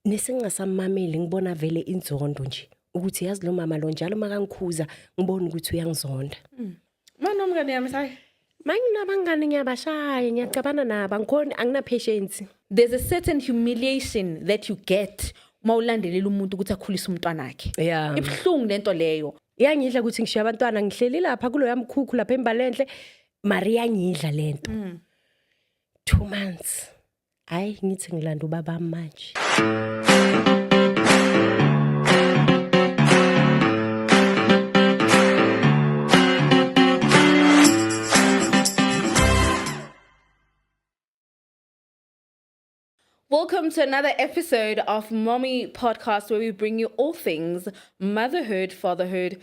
nesingasamameli ngibona vele inzondo nje ukuthi yazi lo mama lo njalo makangikhuza ngibona ukuthi uyangizonda mm. mana umngane yami sayi manginabangane ngiyabashaya ngiyacabana nabo angikhoni anginapatience there's a certain humiliation that you get uma ulandelela umuntu ukuthi akhulise umntwana wakhe yeah. ibuhlungu lento leyo iyangidla ukuthi ngishiya abantwana ngihleli lapha kuloya mkhukhu lapha embalenhle maria ngidla lento mm. two months Hayi ngithi ngilanda ubaba manje. Welcome to another episode of Mommy Podcast, where we bring you all things motherhood, fatherhood,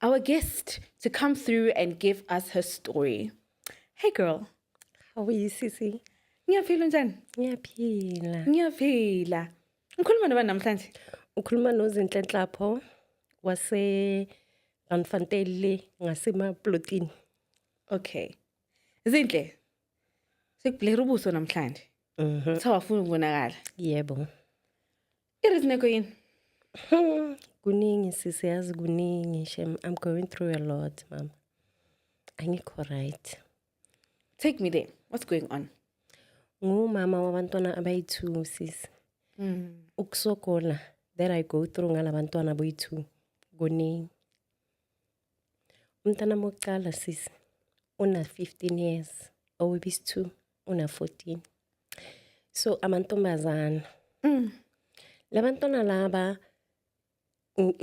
our guest to come through and give us her story. Hey, girl. How are you, Sissy? Ngiyaphila njani? Ngiyaphila. Ngiyaphila. Ngikhuluma nobani namhlanje? Ukhuluma nozinhle nhlapho wase Randfantele ngasemaplotini. Okay. Zinhle. Sikubhlera ubuso namhlanje. Mhm. Kuthiwa wafuna ukubonakala. Yebo. Irisneko yini? Hmm, kuningi sisi yazi kuningi shem I'm going through a lot mama. Angikho right. Take me there. What's going on? Ngumama wabantwana abayi-2 sisi. Mm. Ukusokola that I go through ngalabantwana boyi-2 kuningi. Umntana wokuqala sisi una-15 years owebisi-two una-14 so amantombazana mm. labantwana laba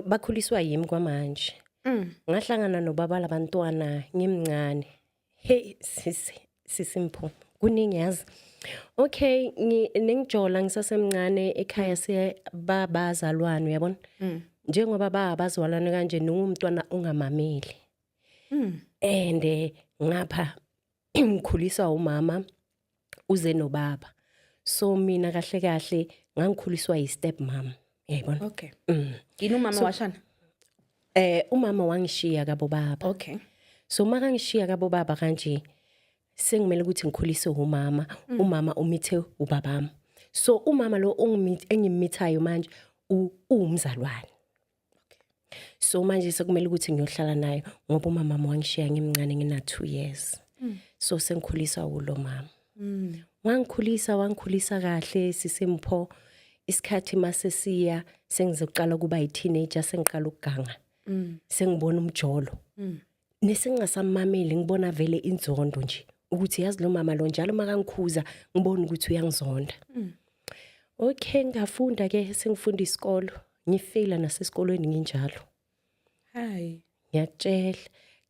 bakhuliswa yimi kwamanje mm. ngahlangana nobaba labantwana ngimncane Hey sisi sisi Mpho kuningi yazi okay nengijola ngisasemncane ekhaya siye babazalwane uyabona mm. njengoba babazalwane kanje ningumntwana ongamameli mm. and eh, ngapha ngikhuliswa umama uze nobaba so mina kahle kahle ngangikhuliswa yi step mom yayibona okay mm. yini umama so, washana eh umama wangishiya kabo baba okay so makangishiya kabo baba kanje sengimele ukuthi ngikhulise umama mm. umama umithe ubabami so umama lo engimithayo manje uwumzalwane so manje sekumele ukuthi ngiyohlala nayo ngoba umama wami wangishiya ngimncane ngina 2 years mm. so sengikhulisa ulo mama mm. wangikhulisa wangikhulisa kahle sisempho isikhathi mase siya sengizoqala kuba yi teenager sengiqala ukuganga mm. sengibona umjolo mm. nesingasamameli ngibona vele inzondo nje ukuthi yazi lo mama lo njalo makangikhuza ngibona ukuthi uyangizonda mm. okay ngafunda ke sengifunda isikolo ngifeyila nasesikolweni nginjalo hayi ngiyakutshela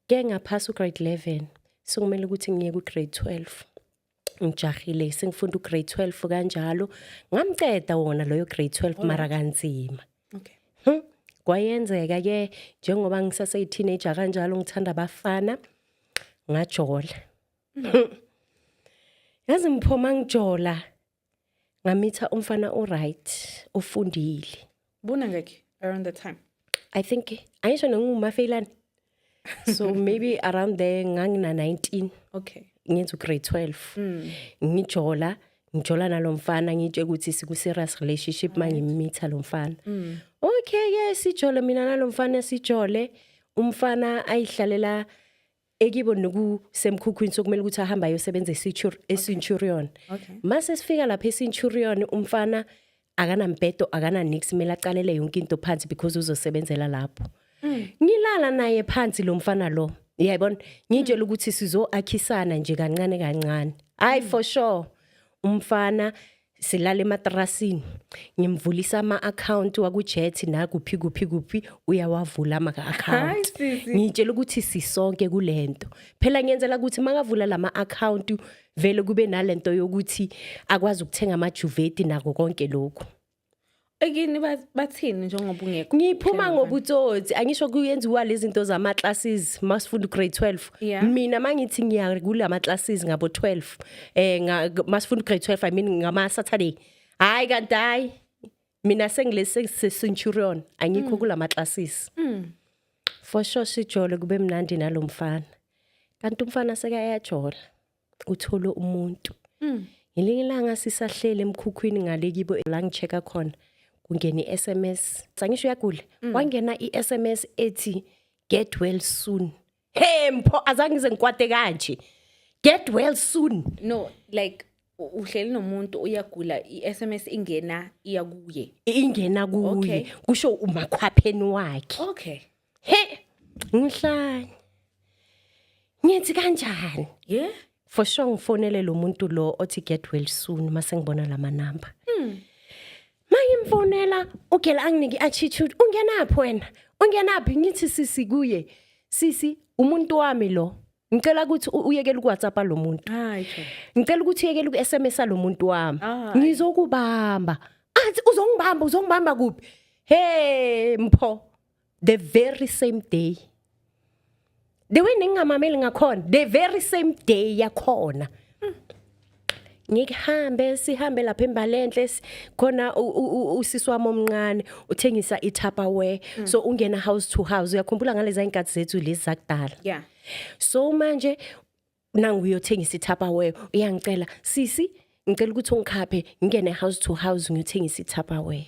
ke ngaphasa ugrade 11 sekumele ukuthi ngiye kugrade 12 ngijahile sengifunda ugrade 12 kanjalo ngamceda wona loyo grade 12 mara kanzima okay hmm? kwayenzeka ke njengoba ngisase teenager kanjalo ngithanda abafana ngajola hmm. yazi ngiphoma ngijola ngamitha umfana oright ofundile bona ngeke around that time i think ayisho nongumafeilane so maybe around there ngangina 19 okay ngenza ugrade 12 mm. ngijola ngijola nalomfana ngitshe ukuthi siku serious relationship mangimitha lomfana mm. okay yes sijole mina nalomfana sijole umfana ayihlalela ekibo nokusemkhukhwini sokumele ukuthi ahamba ayosebenza eCenturion okay. mase sifika lapha eCenturion umfana akanambhedo akananix kumele aqalele yonke into phansi because uzosebenzela lapho mm. ngilala naye phansi lo mfana lo yayibona ngitshela mm. ukuthi sizoakhisana nje kancane kancane hayi mm. for sure umfana silala ematrasini ngimvulisa ama-akhawunti wakujethi nakuphi kuphi kuphi uyawavula ama-akhawunti ngiyitshela ukuthi sisonke kule nto phela ngiyenzela ukuthi makavula la ma-akhawunti vele kube nale nto yokuthi akwazi ukuthenga amajuveti nako konke lokhu ekini bathini njengoba ungekho ngiphuma ngobutsotsi angisho kuyenziwa lezi zinto zama classes masifunda grade 12 mina mangithi ngiya kula ma classes ngabo 12 eh masifunda grade 12 i mean ngama saturday hayi kanti hayi mina sengilese centurion angikho mm. kula ma classes mm. for sure sijole kube mnandi nalomfana kanti umfana seka yajola uthole umuntu mm. ngelinye ilanga sisahlele emkhukhwini ngale kibo la ngicheka khona kungena i-sms sangisho uyagula mm. kwangena i-sms ethi get well soon hey mpho azange ngize ngikwate kanje get well soon no like uhleli nomuntu uyagula i-sms ingena iya kuye ingena kuye kusho umakhwapheni wakhe okay he ngihlanye ngithi kanjani ye for sure ngifonele lo muntu lo othi get well soon mase ngibona lama number mm. mangimfonela ugela anginiki attitude ungenaphi wena ungenaphi ngithi sisi kuye sisi umuntu wami lo ngicela ukuthi uyekele ukwhatsapp lo muntu ngicela ukuthi uyekele uku-sms lo muntu wami ngizokubamba athi uzongibamba uzongibamba kuphi he mpho the very same day the way ningamameli ngakhona the very same day yakhona ngikuhambe sihambe lapha embalenhle khona usisi wami omncane uthengisa itupperware mm. so ungena house to house uyakhumbula ngalezi inkathi zethu lezi zakudala yeah so manje nangu uyothengisa itupperware uyangicela sisi ngicela ukuthi ungikhaphe ngingene house to house ngiyothengisa itupperware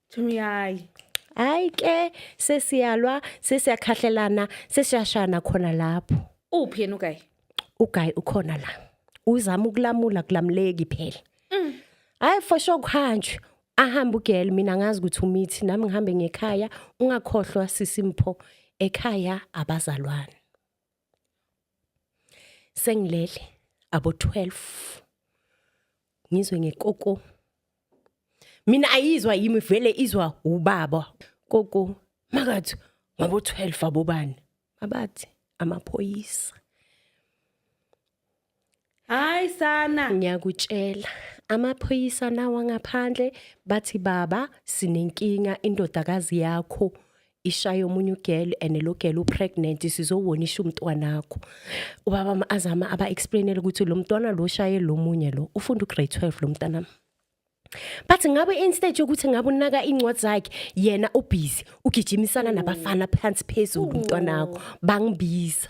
Thumiyayi. Hayi ke sesiyalwa sesiyakhahlelana sesiyashana khona lapho. Uphi yena ugayi? Ugayi ukhona la. Uzama ukulamula kulamuleki phela. Mm. Hayi for sure kuhanjwe. Ahamba ugel mina ngazi ukuthi umithi nami ngihambe ngekhaya ungakhohlwa sisimpho ekhaya abazalwane. sengilele abo 12 ngizwe ngekoko mina ayizwa yimi vele izwa ubaba koko makathi ngabo 12 abobani abathi amaphoyisa hayi sana ngiyakutshela amaphoyisa nawa ngaphandle bathi baba sinenkinga indodakazi yakho ishaya omunye ugel and lo gel upregnant sizowonisha umntwana wakho ubaba azama aba explainele ukuthi lo mntwana lo shaye lo munye lo ufunda ugrade 12 lo mntana but ngabe instead yokuthi ngabe unaka incwadi zakhe yena ubhizi ugijimisana nabafana phansi phezulu umntwana wakho bangibiza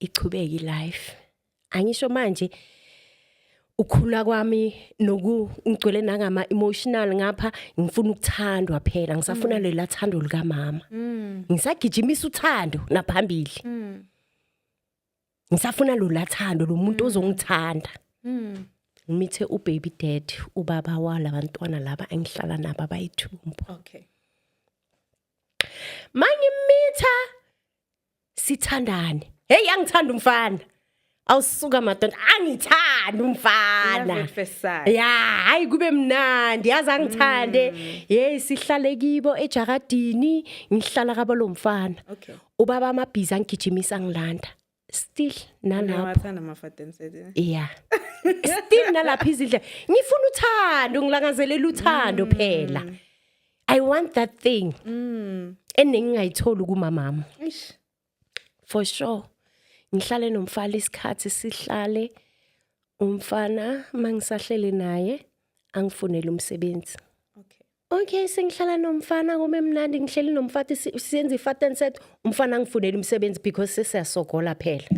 ichubeke ilife angisho manje ukhula kwami nokungigcwele nangama emotional ngapha ngifuna ukuthandwa phela ngisafuna mm. lela thando lika mama mm. ngisagijimisa uthando naphambili mm. ngisafuna lo lathando lo muntu mm. ozongithanda mm. ngimithe u baby dad ubaba wala bantwana laba engihlala nabo abayithumbu okay mangimitha sithandane hey yangithanda umfana awusuka madonda angithanda umfana ya hayi kube mnandi yazi angithande mm. hey sihlale kibo ejakadini ngihlala kabo lomfana ubaba amabhiza ngigijimisa ngilanda still nalapho ya still nalapho izindlela ngifuna uthando ngilangazelela uthando mm. phela i want that thing mm. enengingayitholi kumamama for sure ngihlale nomfana isikhathi sihlale umfana mangisahlele naye angifunele umsebenzi Okay sengihlala nomfana kome mnandi ngihleli nomfati si- siyenza ifat and set umfana angifunela umsebenzi because sesiyasogola phela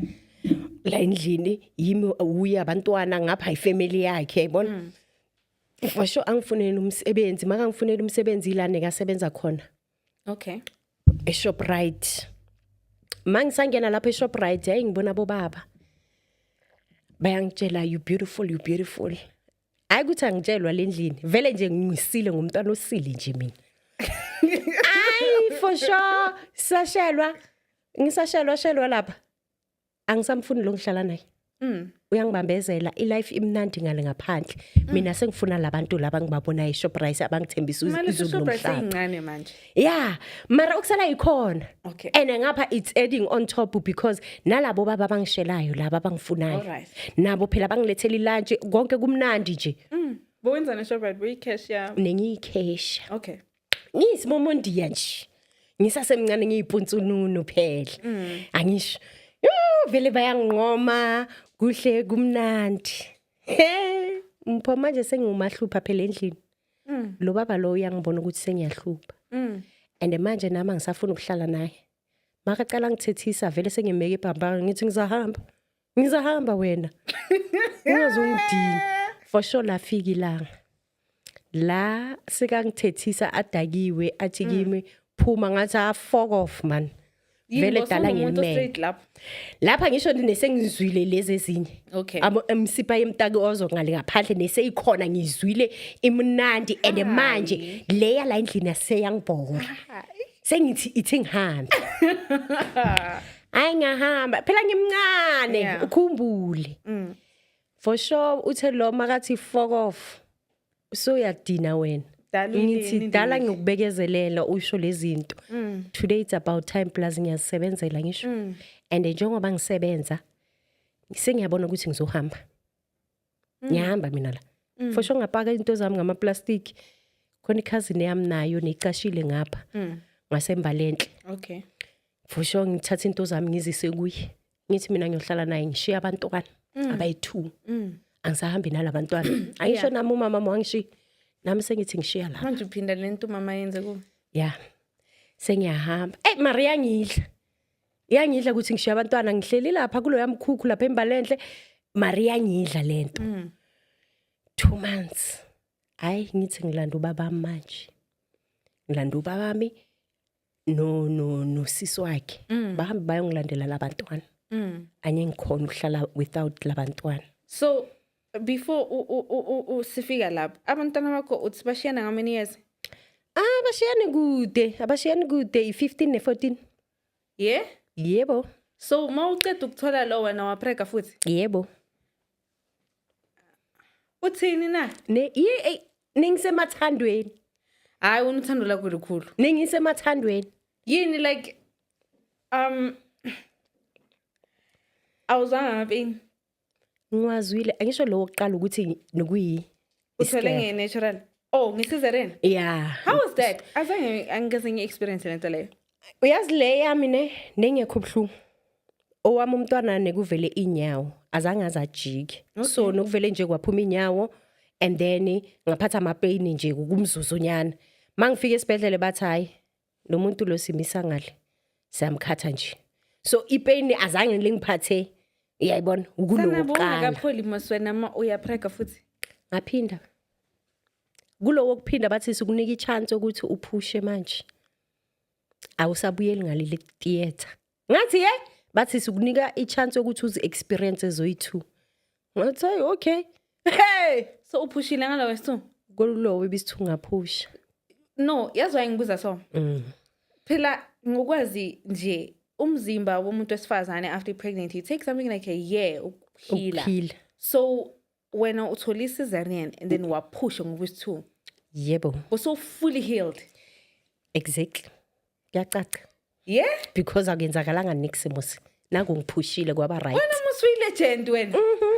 la endlini yimi uye abantwana ngapha ifamily yakhe yabona for sure angifunela umsebenzi makangifunela umsebenzi ilane kasebenza khona okay eShoprite mangisangena lapha eShoprite hayi ngibona bobaba bayangitshela you beautiful you beautiful hayi ukuthi angitshelwa le ndlini vele nje ngisile ngomntwana osile nje mina ayi for sure sashelwa ngisashelwa shelwa lapha angisamfuni lo ngihlala naye Mm. uyangibambezela ilife imnandi ngale ngaphandle Mm. mina sengifuna labantu laba ngibabonayo eShoprite abangithembisa Manje uZulu uShoprite nomhlaba seyincane manje. yeah mara okusala yikhona Okay. and ngapha it's adding on top because nalabo baba abangishelayo laba abangifunayo Alright. nabo phela bangilethela ilunch konke kumnandi nje Mm. Bowenzana Shoprite buyi cash ya. nengiyikhesha Okay. ngiyisimomondiya nje ngisasemncane ngiyipunsununu phela Mm. angisho yo vele bayanginqoma kuhle kumnandi he mpho manje sengiwumahlupha phela endlini Mm. Lo baba lo uyangibona ukuthi sengiyahlupha. Mm. And manje nami angisafuni ukuhlala naye. Makacela ngithethisa vele sengimeke ibhambanga ngithi ngizahamba. Ngizahamba wena. Ungazongidini. For sure lafika ilanga. La sikangithethisa adakiwe athi mm. kimi phuma ngathi afok ah, off man. vele dala ngelimele lapha ngisho nesengizwile lezi ezinye okay emsipa yemtaki ozo ngale ngaphandle neseyikhona ngizwile imnandi and manje leya la endlini aseyangibhora sengithi ithi ngihambe hayi ngahamba phela ngimncane ukhumbule mm. for sure uthe lo makathi fuck off usuyadina wena Dala ngithi inini dala nje. ngikubekezelela usho lezinto Mm. today it's about time plus ngiyazisebenzela ngisho Mm. and njengoba ngisebenza sengiyabona ukuthi ngizohamba Mm. ngiyahamba mina la Mm. for sure ngapaka into zami ngamaplastic khona ikhazini yami nayo necashile ngapha Mm. ngasembalenhle Okay. for sure ngithatha into zami ngizise kuye ngithi mina ngiyohlala naye ngishiye abantwana mm. abayi-two mm. angisahambi nalabantwana angisho nami umama wangishiya nami sengithi ngishiya lapha manje uphinda le nto umama yenze ku ya sengiyahamba eyi mari yangidla yangidla ukuthi ngishiya abantwana ngihleli lapha kulo yamkhukhu lapha embalenhle mari yangidla le nto mm. two months hayi ngithi ngilanda ubabami manje ngilanda ubabami no no no sisi wakhe mm. bahambe bayongilandela labantwana mm. anye ngikhona ukuhlala without labantwana so before usifika lapho abantwana bakho uthi bashiyana how many years ah bashiyane kude abashiyane kude i-15 ne-14 ye yebo so uma uceda ukuthola lo wena waprega futhi yebo uthini na Ne- yi- eyi, ningisemathandweni hayi wena uthando lakho likhulu ningisemathandweni yini like um awuzwanga ngapeni ngiwazwile angisho lowo kuqala ukuthi nokuyi uthwele Iscare. nge-natural oh nge-cesarean yeah how was that azange angikaze ngi-experience le nto leyo uyazi le yami ne nengekho ubuhlungu owami umntwana nekuvele inyawo azange azajike so nokuvele nje kwaphuma inyawo and then ngaphatha amapeyini nje kumzuzonyana mangifika esibhedlele bathi hayi lo muntu lo simisa ngale siyamkhatha nje so ipain azange lingiphathe uyayibona ukulokuqala kapholi maswena ma uyaprega futhi ngaphinda kulowo kuphinda bathi sikunika ichance ukuthi uphushe manje awusabuyeli ngaleli theater ngathi ye bathi sikunika i-chance yokuthi uzi-experience ezoyi-two ngathi hayi okay hey so uphushile ngalo wesi-two kolulowo ibisi-two ngaphusha no yazi wayengibuza so mm. phela ngokwazi nje umzimba womuntu wesifazane after pregnant you take something like a year ukuphila so wena uthole i-cesarean and then waphusha ngokuthi two yebo uso fully healed exactly kuyacaca yeah because akuyenzakalanga nix musi nangu ngiphushile kwaba right wena musi uyilegend wena mhm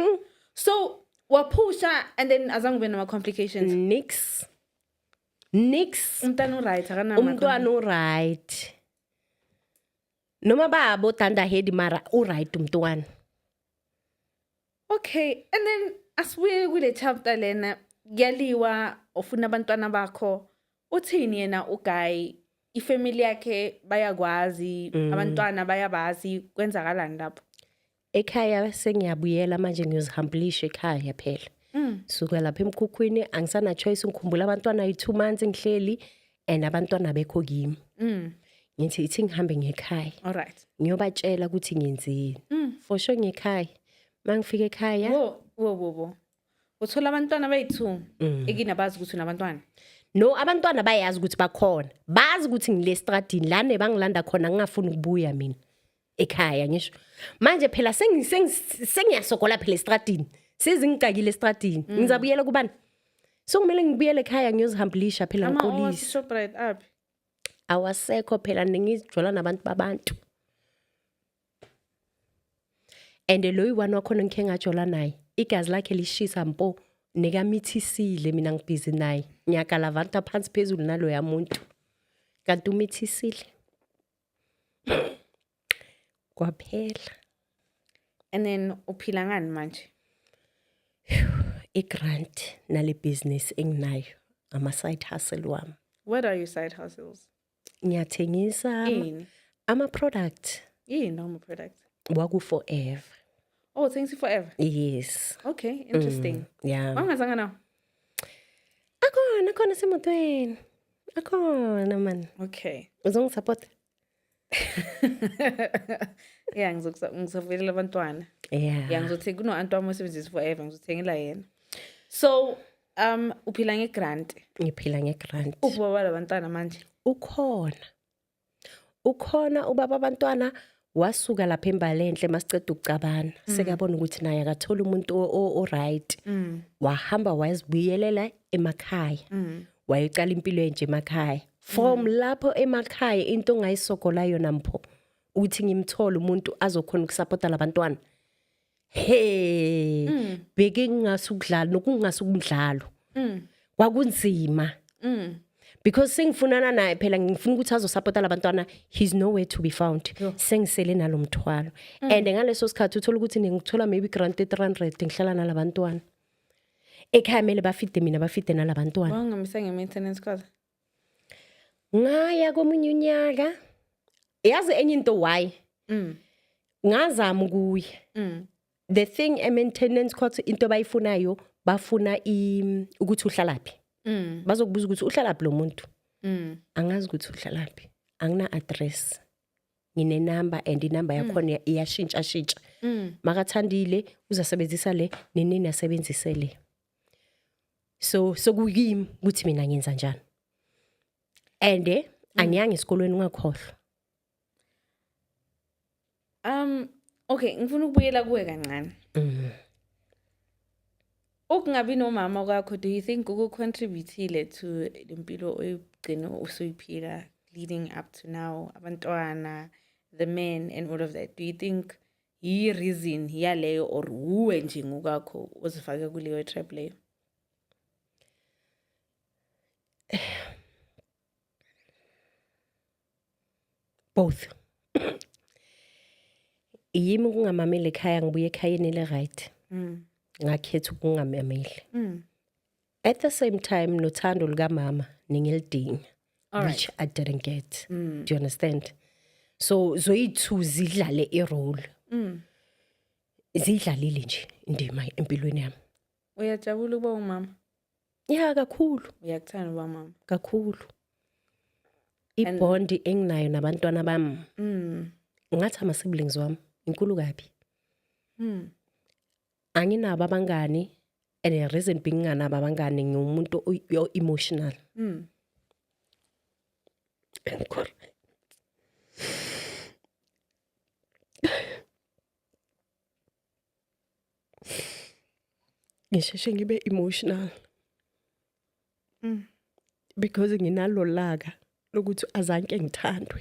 mhm so waphusha and then azange ube nama complications nix nix umntana uright akanama umntwana uright noma babo danda head mara u right umntwana okay and then asibuye kule chapter lena kuyaliwa ufuna abantwana bakho uthini yena uguy ifamily yakhe bayakwazi mm. abantwana bayabazi kwenzakalani lapho ekhaya sengiyabuyela manje ngiyozihambulisha ekhaya phela mm. suka lapha emkhukhwini angisana choice ngikhumbula abantwana yi 2 months ngihleli and abantwana bekho kimi mm. ngithi ithi ngihambe ngekhaya alright ngiyobatshela ukuthi ngenzeni mm. for sure ngekhaya mangifika ekhaya wo wo wo uthola abantwana bayithu mm. ekini abazi ukuthi unabantwana no abantwana bayazi ukuthi bakhona bazi ukuthi ngile stradini lana ebangilanda khona ngingafuni ukubuya mina ekhaya ngisho manje phela sengiyasogola phela estradini sezingicakile estradini mm. ngizabuyela kubani so kumele ngibuyele ekhaya ngiyozihambulisha phela ngiqolise awasekho phela ningizijwala nabantu babantu and loyi wani wakhona ngikhe ngajola naye igazi lakhe lishisa mpo nekamithisile mina ngibhizi naye ngiyagalavanta phansi phezulu naloya muntu kanti umithisile kwaphela and then uphila ngani manje i-grant nale business enginayo ama-side hustle wami what are your side hustles ngiyathengisa ama-product yini ama-product waku-forever oh thengisa i-forever yes okay interesting mm, yeah wangazanga nawo akhona khona semotweni Akhona man. Okay. Uzongisupport? yeah ngizokusavulela abantwana yeah yeah ngizothi kuno anti wami osebenzisa forever ngizothengela yena so um uphila ngegrant ngiphila ngegrant ubaba labantwana manje ukhona ukhona ubaba abantwana wasuka lapha embalenhle masiceda ukucabana mm. sekabona ukuthi naye akathola umuntu oright mm. wahamba wayezibuyelela emakhaya mm. wayeqala impilo enje emakhaya from mm. lapho emakhaya into ongayisogola yona mpho ukuthi ngimthole umuntu azokhona ukusupporta labantwana he mm. bheke ngingase ukudlala nokungase ukumdlalo mm. kwakunzima mm. because sengifunana naye phela ngifuna ukuthi azosupporta labantwana he's nowhere to be found sengisele nalomthwalo mm. and ngaleso sikhathi uthola ukuthi ngikuthola maybe grant 300 ngihlala nalabantwana ekhaya mele bafide mina bafide nalabantwana wangamisa nge maintenance cost ngaya komunye unyaka yazi enye into why mm. ngazama ukuya mm. the thing a maintenance court into bayifunayo bafuna ukuthi uhlalaphi mm. bazokubuza ukuthi uhlalaphi lo muntu mm. angazi ukuthi uhlalaphi angina address ngine number and inumber mm. yakhona iyashintsha shintsha mm. makathandile uzasebenzisa le nenini asebenzise le so sokuyimi ukuthi mina ngenza njani and eh, mm. angiyanga esikolweni ungakhohlwa um okay ngifuna ukubuyela kuwe kancane mm. ukungabi nomama kwakho do you think ukucontributile to lempilo oyigcine usuyiphila leading up to now abantwana the men and all of that do you think yiyi reason yaleyo or wuwe nje ngokwakho ozifake kuleyo trap leyo both yimi ukungamameli ekhaya ngibuye ekhayeni le-right mm. ngakhetha ukungamameli mm. at the same time nothando lukamama ningilidinga Alright. which i didn't get do you understand so zoyi-two zidlale irole ziyidlalile nje indima empilweni yami uyajabula ukuba umama ya kakhulu uyakuthanda uba mama kakhulu ibhondi enginayo nabantwana bami mm. ngathi ama-siblings wami inkulu kabi mm. anginabo abangani and the reason being nganabo abangani ngiwumuntu o emotional mm. enkulu ngisheshe ngibe emotional mm. because nginalolaka lokuthi azanke ngithandwe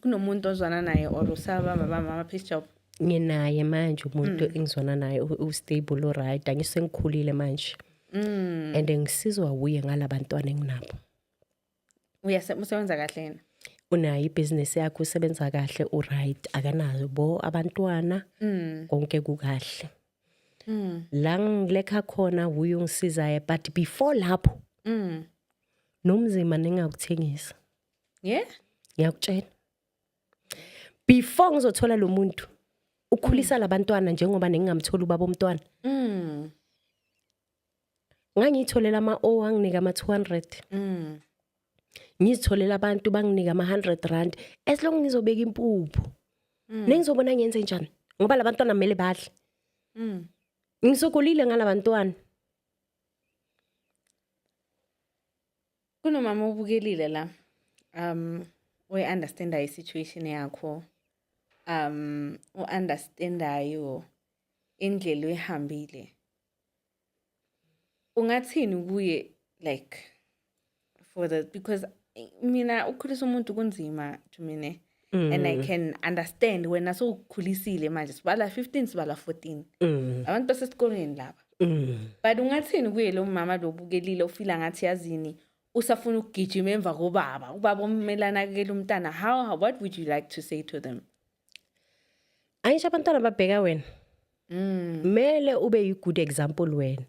kunomuntu ozwana naye or usaba baba mama peace job nginaye manje umuntu mm. engizwana naye ustable oright angisengikhulile manje mm. and ngisizwa wuye ngalabantwana enginabo usebenza kahle yena unayo ibhizinisi yakhe usebenza kahle uright akanazo bo abantwana mm. konke kukahle mm. la ngilekha khona wuye ungisizayo but before lapho mm. nomzima ningakuthengisa ye ngiyakutshela before ngizothola lo muntu ukhulisa mm. labantwana njengoba nengingamthola ubaba omntwana mm. ngangiyitholela ama-o anginika ama-200 mm. ngizitholela abantu banginika ama-100 rand as long ngizobeka impuphu mm. nengizobona ngenze njani ngoba labantwana kumele badle mm. ngisokolile ngalabantwana Kunomama obukelile la um oyi-understandayo i-situation yakho um u-understandayo indlela oyihambile ungathini kuye like for the because mina ukukhulisa umuntu kunzima to mina mm. and i mm. can understand wena sowukhulisile manje sibala 15 sibala 14 mm. abantu basesikolweni laba mm. but ungathini kuye lo mama lobukelile ufila ngathi yazini usafuna ukugijima emva kobaba ubaba omele anakekele umntana how what would you like to say to them angisho abantwana babheka wena Mm. Mele ube yi good example wena.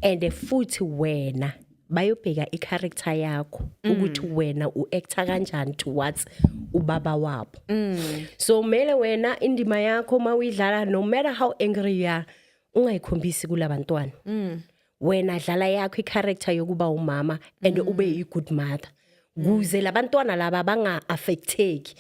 And futhi wena bayobheka i character yakho mm. ukuthi wena u actor kanjani towards ubaba wabo. Mm. So mele wena indima yakho mawuyidlala no matter how angry you are ungayikhombisi kulabantwana. Mm. Wena dlala yakho i character yokuba umama and mm. ube yi good mother. Kuze labantwana laba banga affecteki.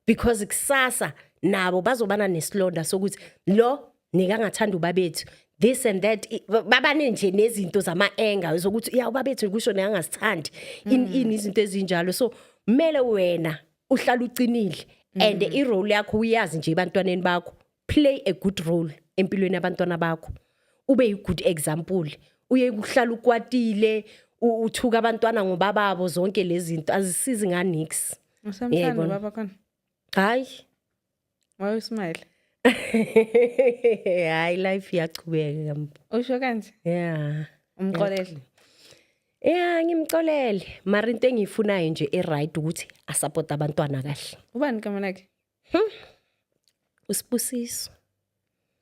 because kusasa nabo bazobana nesilonda sokuthi lo nikangathanda ubabethu this and that babane nje nezinto zama anger zokuthi ya ubabethu kusho neyangasithandi in mm. in izinto ezinjalo so kumele wena uhlala ucinile and mm. i role yakho uyazi nje ebantwaneni bakho play a good role empilweni yabantwana bakho ube yi-good example uye kuhlala ukwatile uthuka abantwana ngobababo zonke lezi zinto azisizi nganix usamthanda baba khona hayi waye usmile hayi life iyachubeka kambo usho kanje yeah umxolele Yeah ngimxolele mara into engiyifunayo nje e-right ukuthi asupport abantwana kahle. Ubani igama lakhe? Hmm. Usibusiso.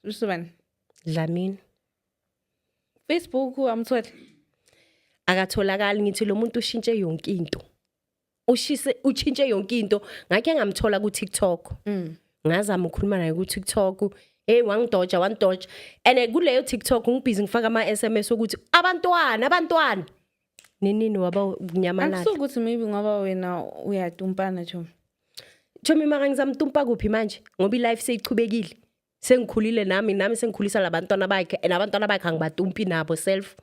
Usibusiso bani? Dlamini. Facebook amthole. Akatholakali ngithi lo muntu ushintshe yonke into. Ushise uchintshe yonke into. Ngakhe ngamthola ku TikTok. Mm. Ngazama ukukhuluma naye ku TikTok. Hey wangidoja wangidoja. And kuleyo TikTok ngibhizi ngifaka ama SMS ukuthi abantwana abantwana ninini waba nyamalala akusuke ukuthi maybe ngoba wena uyatumpana chomi chomi mara ngizamtumpa kuphi manje ngoba ilife seyichubekile sengikhulile nami nami sengikhulisa labantwana bakhe and abantwana bakhe angibatumpi nabo self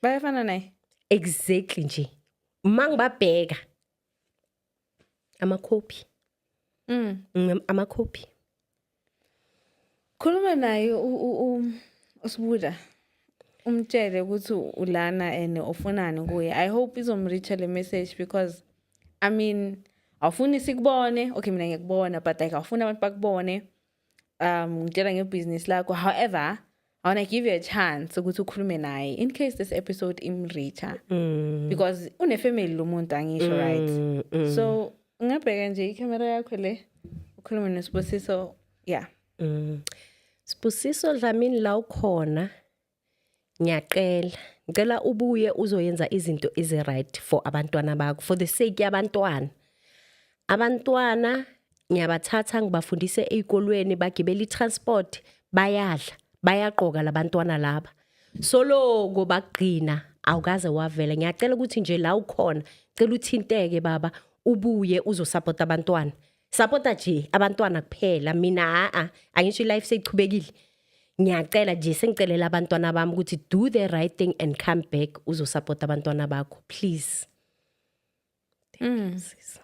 bayafana naye exactly nje uma ngibabheka amakhophi mm. mm amakhophi khuluma naye usibuda umtshele ukuthi ulana and ufunani kuye i hope izomreacha le message because i mean awufuni sikubone okay mina ngiyakubona but like awufuni abantu bakubone um ngitshela ngebhizinisi lakho however i want to give you a chance ukuthi ukhulume naye in case this episode imreacher mm. because unefamily lo muntu angisho mm, right mm. so ungabheka nje ikhamera yakho le ukhulume nesibusiso yeah mm. sibusiso dlamini la ukhona ngiyacela ngicela ubuye uzoyenza izinto ezi right for abantwana bakho for the sake yabantwana abantwana ngiyabathatha ngibafundise ezikolweni bagibela itransport bayadla bayaqoka labantwana laba soloko bagcina awukaze wavela ngiyacela ukuthi nje la ukhona cela uthinteke baba ubuye uzosupporta abantwana sapota nje abantwana kuphela mina haa angisho ilife seyichubekile ngiyacela nje sengicelela abantwana bami ukuthi do the right thing and come back uzosapota abantwana bakho please thank you mm. sis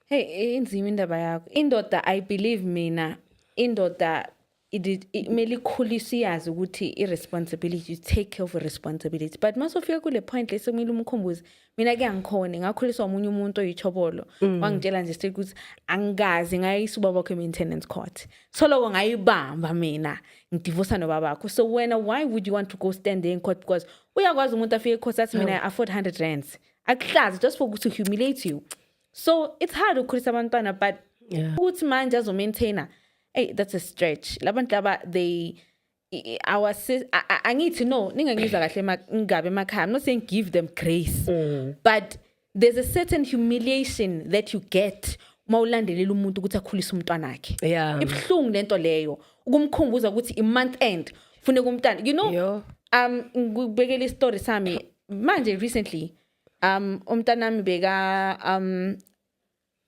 hey inzima indaba yakho indoda i believe mina indoda kumele ikhuliswe iyazi ukuthi i-responsibility take care of responsibility but uma sofika kule point le sekumele umkhumbuze mina ke angikhone ngakhuliswa omunye umuntu oyithobolo mm. wangitshela nje straight ukuthi angikaze ngayisa ubaba wakho i-maintenance court so loko ngayibamba mina ngidivosa nobaba wakho so wena why would you want to go stand there in court because uyakwazi umuntu afike ecourt athi mina i afford 100 rands akuhlazi just for to humiliate you so it's hard ukukhulisa abantwana but yeah. ukuthi manje azomaintaina hey that's a stretch labantu laba they our angithi no ningangizwa kahle ngabe emakhaya i'm not saying give them grace mm. but there's a certain humiliation that you get uma ulandelela umuntu ukuthi akhulise umntwana wakhe yeah. ibuhlungu lento leyo ukumkhumbuza ukuthi i-month end funeka umntana you know Yo. um ngikubekela isitori sami manje recently um umntanami beka um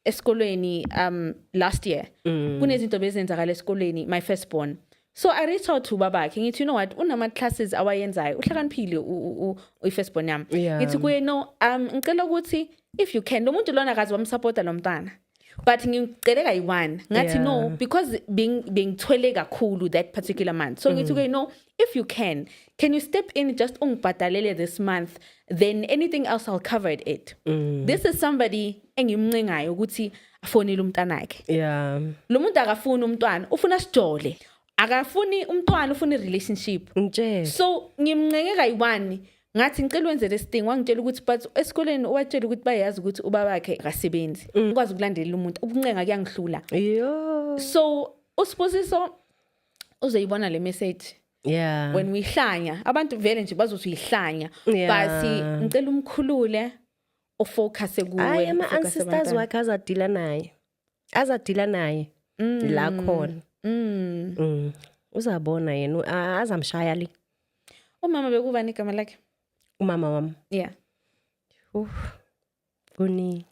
esikolweni um last year mm. kunezinto bezenzakala esikolweni my first born so i reach out to babakhe ngithi you know what unama classes awayenzayo uhlakaniphile uyi-first born yami ngithi kuye no um ngicela ukuthi if you can lo muntu lona akazi wamsupporta lo mntana but ngicele kayi-one ngathi yeah. no because bengithwele kakhulu that particular month so ngithi mm. ke no if you can can you step in just ungibhadalele this month then anything else i'll cover it mm. this is somebody engimncengayo ukuthi afonile umntanakhe yeah lo muntu akafuni umntwana ufuna sijole akafuni umntwana ufuna i-relationship ngitshela so ngimncenge kayi-one ngathi ngicela wenze lesi thing wangitshela ukuthi but esikoleni ubatshela ukuthi bayazi ukuthi ubaba wakhe akasebenzi mm. ukwazi ukulandelela umuntu ukuncenga kuyangihlula so usibusiso uzoyibona le message yeah when uyihlanya abantu vele nje bazothi uyihlanya yeah. basi ngicela umkhulule ufocuse kuwe ama ancestors wakhe azadila naye azadila naye mm. la khona mm. mm. uzabona yena azamshaya le umama bekubani igama lakhe umama wami yeah uh kuni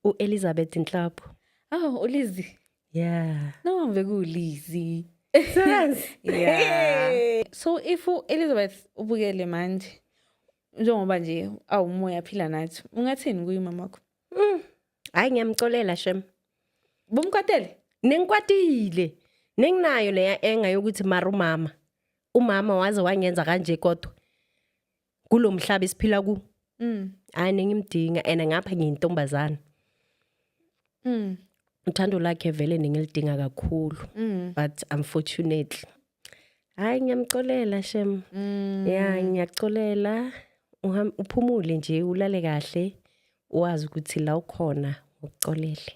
uElizabeth Nhlapho oh uLizi yeah no bekulizi sense yeah so if uElizabeth ubukele manje njengoba nje awumoya phila nathi ungathini kuyi mama wakho Mm. Hayi ngiyamcolela shem. Bumkwatele? Nengikwatile. Nenginayo leya enga yokuthi mara umama. Umama waze wangenza kanje kodwa. Kulomhlaba isiphila ku. Mm. Hayi nengimdinga and ngapha ngiyintombazana. Mm. Uthando lakhe vele nengilidinga kakhulu. Mm. But unfortunately Hayi ngiyamxolela shem. Mm. Ya ngiyaxolela uhamba uphumule nje ulale kahle wazi ukuthi la ukhona ngokuxolele.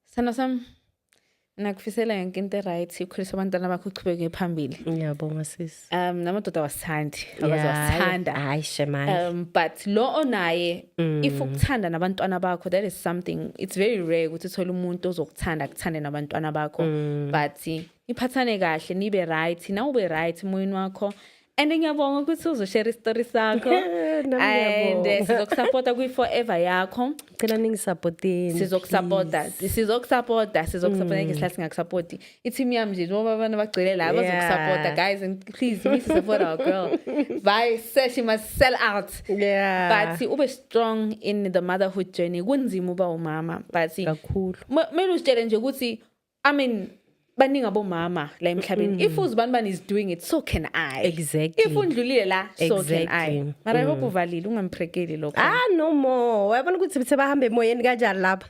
Sana sam nakufisela yonke into right ukhulisa abantwana bakho uchubeke phambili. Ngiyabonga sisi. Um namadoda wasithandi abaze wasithanda. Hayi shemani. Um but lo onaye mm. if ukuthanda nabantwana bakho that is something it's very rare ukuthi uthole umuntu ozokuthanda akuthande nabantwana bakho mm. but niphathane kahle nibe right na ube right emoyeni wakho and ngiyabonga ukuthi uzoshare isitori sakho and eh, sizokusapota kwi-forever yakho cela ningisapoteni sizokusapota sizokusapota sizokusapota mm. ngesikhathi singakusapoti i-team yami nje njengoba abantu bagcwele la bazokusapota guys and please you need to support our girl by sesh must sell out yeah but ube strong in the motherhood journey kunzima uba umama but kakhulu kumele usitshele nje ukuthi i mean baningi abomama la emhlabeni mm. if uzibanibani is doing it so can i exactly if undlulile la so exactly. can i mara mm. hope uvalile ungamphrekeli lokho ah no more wayabona ukuthi sebahamba emoyeni kanjani lapha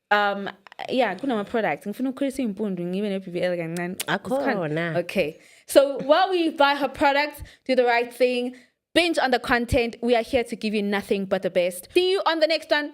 um yeah kunama products ngifuna ukukhulisa impundu ngibe ne BBL kancane akhona okay so while we buy her products do the right thing binge on the content we are here to give you nothing but the best see you on the next one